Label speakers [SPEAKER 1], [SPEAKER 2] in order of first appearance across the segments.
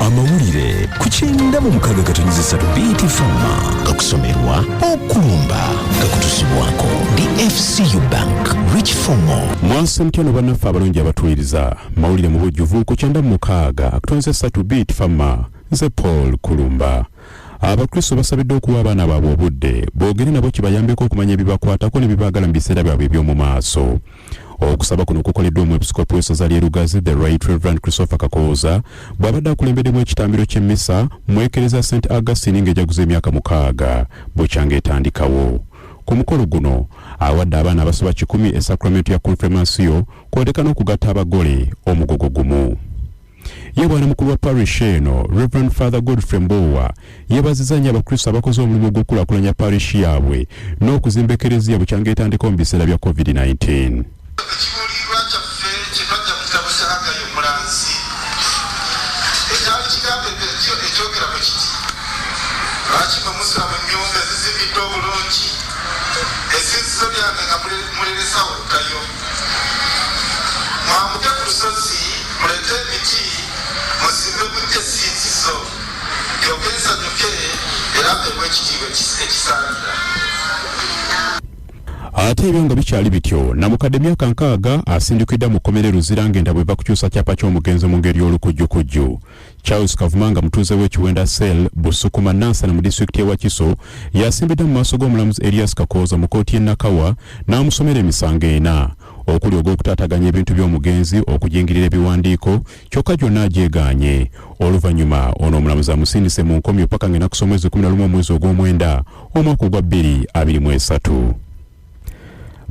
[SPEAKER 1] amawulire ku kyenda mu mukaga gatonyeza satu bt fama gakusomerwa okulumba gakutusibwako dfcu bank rich fomo mwansi mtyano bannaffe
[SPEAKER 2] abalungi abatuwiriza mawulire mu bujjuvu ku kyenda mu mukaaga akutonyeza satu bt fama nze paul kulumba abakristo basabiddwa okuwa abaana baabwe obudde boogere nabo kibayambeko okumanya ebibakwatako ne bibaagala mu biseera byabwe eby'omu maaso okusaba kuno kukoleddwa omwepisikoopi w'essaza ly'e lugazi the right reverend christopher kakooza bw'abadde akulembeddemu ekitambiro ky'emmisa mu ekereza st augustine ng'ejaguza emyaka mukaaga bukyanga etandikawo ku mukolo guno awadde abaana abasoba kikumi esakramenti ya konfirmasiyo kwoleka n'okugatta abagole omugogo gumu ye bwana mukulu wa parish eno reverend father godfrey mboowa yebaziza nnyo abakristo abakoze omulimu ogw'okulakulanya parish yaabwe n'okuzimba ekereziya bukyanga etandikawo mu biseera bya covid-19 Thank you. ate ebyo nga bikyali bityo namukadde myaka nkaaga asindikidda mu kkomera e luzira ng'enda bweva kukyusa kyapa ky'omugenzi mu ngeri y'olukujjukujju charles kavuma nga mutuuze w'ekiwenda sel busukuma nansana mu disitulikiti ewakiso yasimbidde mu maaso g'omulamuzi elias kakooza mu kkooti y'e nakawa n'amusomera emisango ena okuli ogw'okutaataganya ebintu by'omugenzi okujingirira ebiwandiiko kyokka gyonna agyegaanye oluvannyuma ono omulamuzi amusindise mu nkomyo paka ng'enaku z'omwezi 11 omwezi ogw'omwenda omwaka ogwa 2023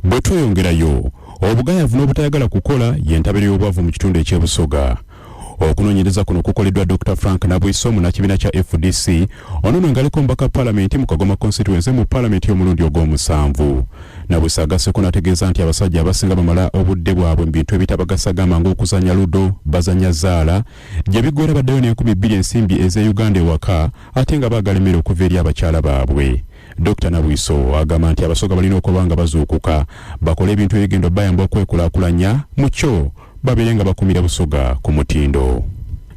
[SPEAKER 2] bwe tweyongerayo obugayavu n'obutayagala kukola y'entabiro y'obwavu mu kitundu eky'ebusoga okunonyereza kuno kukoleddwa dr frank nabwiso munakibiina kya fdc ono no ngaliko mbaka palamenti mu kagoma constituency mu palamenti y'omulundi ogw'omusanvu nabwiso agaseko nategeeza nti abasajja abasinga bamala obudde bwabwe mu bintu ebitabagasa gamba ng'okuzanya ludo bazanya zaala gye biggwera baddayo n'enkumi bbiri ensimbi ez'e uganda ewaka ate nga baagala emmere okuva eri abakyala baabwe dr nabwiso agamba nti abasoga balina okuba nga bazuukuka bakole ebintu ebigenda bayamba okwekulakulanya mu kyo babeere nga bakumira Busoga ku mutindo.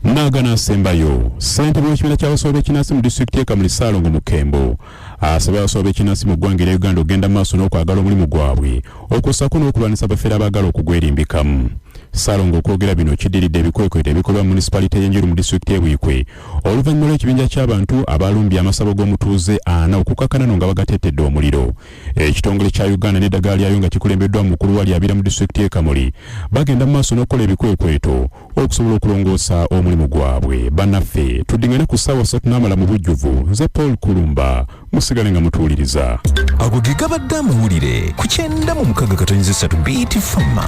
[SPEAKER 2] Nagana asembayo ssentebe w'ekibiina ky'abasawo b'ekinnansi mu disitulikiti y'e Kamuli Ssaalongo Mukembo asabye abasawo b'ekinnansi mu ggwanga erya Uganda okugenda mu maaso n'okwagala omulimu gwabwe okwo ssaako n'okulwanyisa abafere abaagala okugwerimbikamu. Ssaalongo okwogera bino kiddiridde ebikwekweto ebikolebwa mu munisipalite y'e Njeru mu disitulikiti y'e Buikwe oluvannyuma lw'ekibinja ky'abantu abaalumbye amasabo g'omutuuze ana okukakkana no nga bagatettedde omuliro. ekitongole kya uganda n'eddagala lyayo nga kikulembeddwa omukulu wa lyabira mu disitulikiti y'e kamuli bagenda mu maaso n'okukola ebikwekweto okusobola okulongoosa omulimu gwabwe banaffe tuddingane ku ssaawa satu n'amala mu bujjuvu nze paul kulumba musigale nga mutuwuliriza
[SPEAKER 1] ago ge gabadde amawulire ku
[SPEAKER 2] kyenda
[SPEAKER 1] mu mukaga katonyiza esatu bt fama